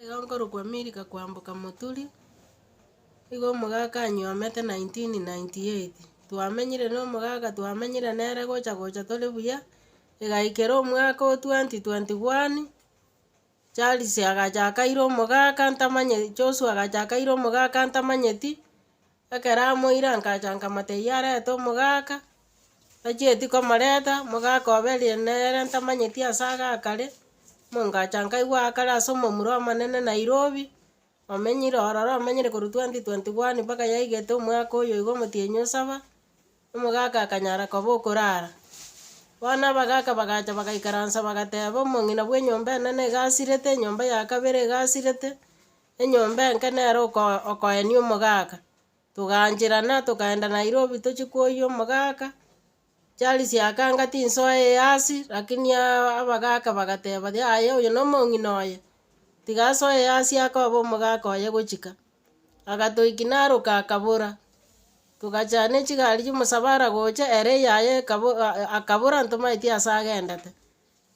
Ekero nkorokwa Milka koamboka moturi, nigo omogaka anyiomete 1998, twamenyire na omogaka twamenyire nere gocha gocha tore buya, egaikera omwaka o 2021, Charles agacha akaira omogaka ntamanyeti, Joshua agacha akaira omogaka ntamanyeti, Ekero amoire akacha akamata eyio arete omogaka, achieti komoreta, omogaka obe riria nere ntamanyeti ase agakare, omongacha nkaigwa akare ase omomura omonene Nairobi, omenyire ororo omenyire korwa twenty twenty one mpaka yaigete omwaka oyo iga omotienyi osaba, omogaka akanyara koba okorara. Bono abagaka bagacha bagaikaransa bagateba omong'ina bw'enyomba enene iga asirete, enyomba ya kabere iga asirete. Enyomba enke nere okoenia omogaka. Togaancherana togaenda Nairobi tochie kwoyia omogaka, chiari chiakanga tinsoa eyasi lakini abagaka bagateba yaya oyo nomong'ina oye, tiga asoe eyasi akoba omogaka oye gochika. Agatoiki naroka akabora, togachia nechigari chiomosabara gocha ere yaye ekabo akabora ntomaeti ase agendete.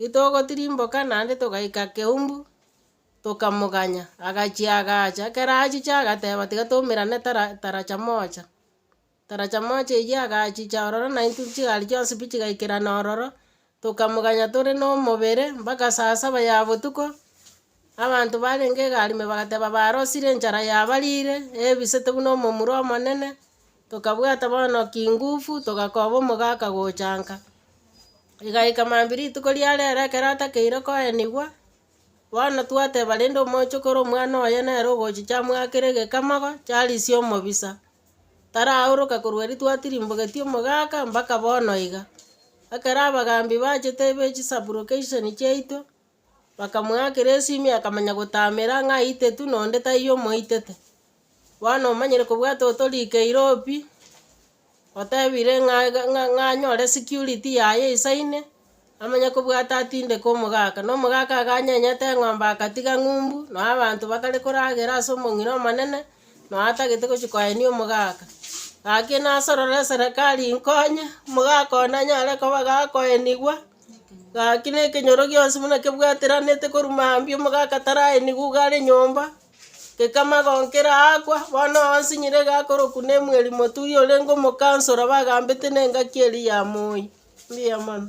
Ritogotirimboka naende togaika keumbu, Tokamoganya, agachia agacha, ekero achiche agateba tiga toumerane tara taracha moja, taracha moja eywo agachicha ororo na intwe chigari chionsi pi chigaikerana ororo, tokamoganya tore na omobere mpaka saa saba ya botuko, abanto barenge egari ime bagateba barosire enchara yabarire, ebisete buna omomura omonene, tokabwata bono kingufu, togakoba omogaka gochanka, igaika mambia rituko riarero ekero atakeire koenigwa. Bono twateba rende omochokoro omwana oye nere ogochicha amwakere egekamago, Charisi omobisa, taraoroka korwa erio twatirimbogetie omogaka mpaka bono iga. Ekero abagambi bachete be chisupplication chiaito, bakamwakera esimi akamanya gotamera ng'a aitetu na onde taiyo omoitete. Bono omanyire kobwate otorikeire obi, otebire ng'a iga ng'a ng'a anyore security yaye isaine, amanye kobwate atindeke omogaka. Na omogaka iga anyenyete eng'ombe agatiga ng'umbu, noo abanto bakare koragera ase omong'ina omonene, noo atagete gochia koenia omogaka. Gaki nasorore eserekari inkonye, omogaka one anyare koba gakoenigwa, gaki na ekenyoro gionsi buna kebwateraneete korwa mambia omogaka taraenigwa iga are nyomba. Gekamagonkera aakwa, bono onsi nyire gakorokwa nemweri moturi orenge omokansoro bagambete nengaki eria ya moi. Mbuya mono.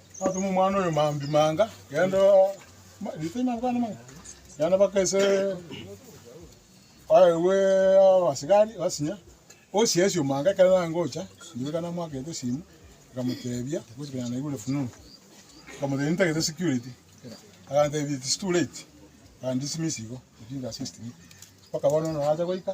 Natuma omwana oyo mambia manga, genda genda mpaka ase aye bwe abasigari basinya, osiesi omanga ekero nagocha, riria ekero namoakete esimu, nkamotebia, bosi konya naigure fununu, nkamotebia nitagete security, agantebia it's too late, akan dismiss igo, refuse assist me, mpaka bono norache goika.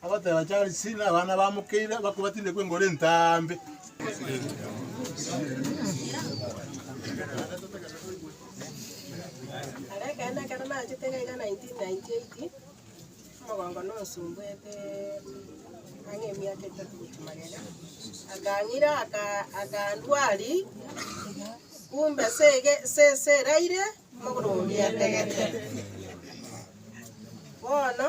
Agoteeba Charlesi na abana bamokeire bakwo batinde kw'engoro entambe. Are ekeene ekero nachete iga iga 1998, omogongo nonsumbwete ang'e emiaka etato gochia magega, akang'ira aka akandwari, kumbe ase ege ase ase eraire, amagoro oria ategete. Bono.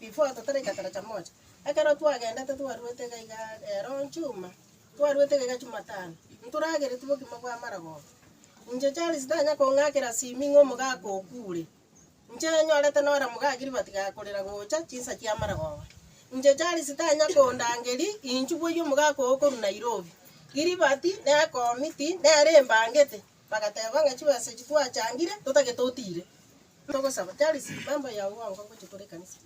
Before totare egetara cha moja, ekero twagendete twarwete iga iga rero chuma, twarwete iga iga chumatano, ntorageretie bokima bwa amaragoba. Inche Charles ntanya kong'akera simi ng'a omogaka okure. Inche nyorete nore mogaa Gilbert gakorera gocha chinsa chia amaragoba. Inche Charles tanya kondangeri inchuboyie omogaka okorwa Nairobi. Gilbert nekomiti, nere embangete, Bagateeba ng'a chibesa echi twachangire totagete otiire. Togosaba, Charles, memba yao bwango agoche kore ekanisa.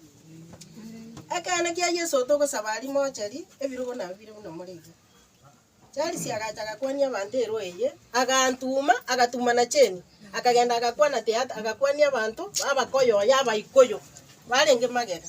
Ekeene kia Yeso togosaba aria mocheri, ebirogo nabio bire buna more iga. Charles agacha agakwania abanto erwa eye, agantuma, agatuma na Jane, akagenda agakwana theatre, agakwania abanto b'Abakoyoyo, Abaikuyu, barenge magega.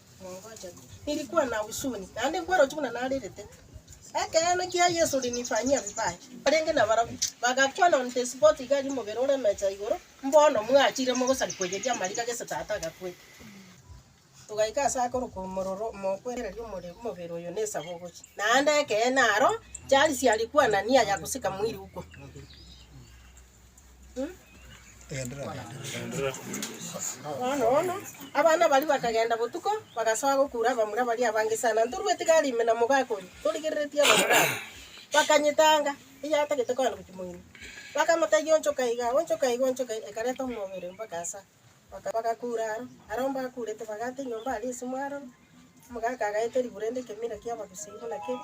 Nilikuwa na husuni, naende nkwaroche buna narerete. Ekeene kia Yesu linifanyia vibaya. Barenge nabarabwo, bagakwana on the spot iga aria omobere oremecha igoro, mbono mwachire mogosari koyeria amariga gese tata agakwete. Togaika ase akoruka omororo mokwereria omore omobere oyo ne esabo ogochia. Naende ekeene aro, charisi alikuwa na nia ya kusika mwili huko. Bono bono abana baria bakagenda botuko, bagasoa gokuura abamura baria abange sana. Ntorue etigari ime na mogaaka oria, torigereretie abamura abwo. Bakanyetanga, eyatagete kogenda gochia moino. Bakamotebia, Onchoka iga, onchoka iga, onchoka iga, ekareta omobere mpaka asa. Baka- bagakuura aro, aro mbakuurete bagaata enyomba aria esimo aro, omogaaka agaeta erigura rende ekemira ki'abagusii buna kere.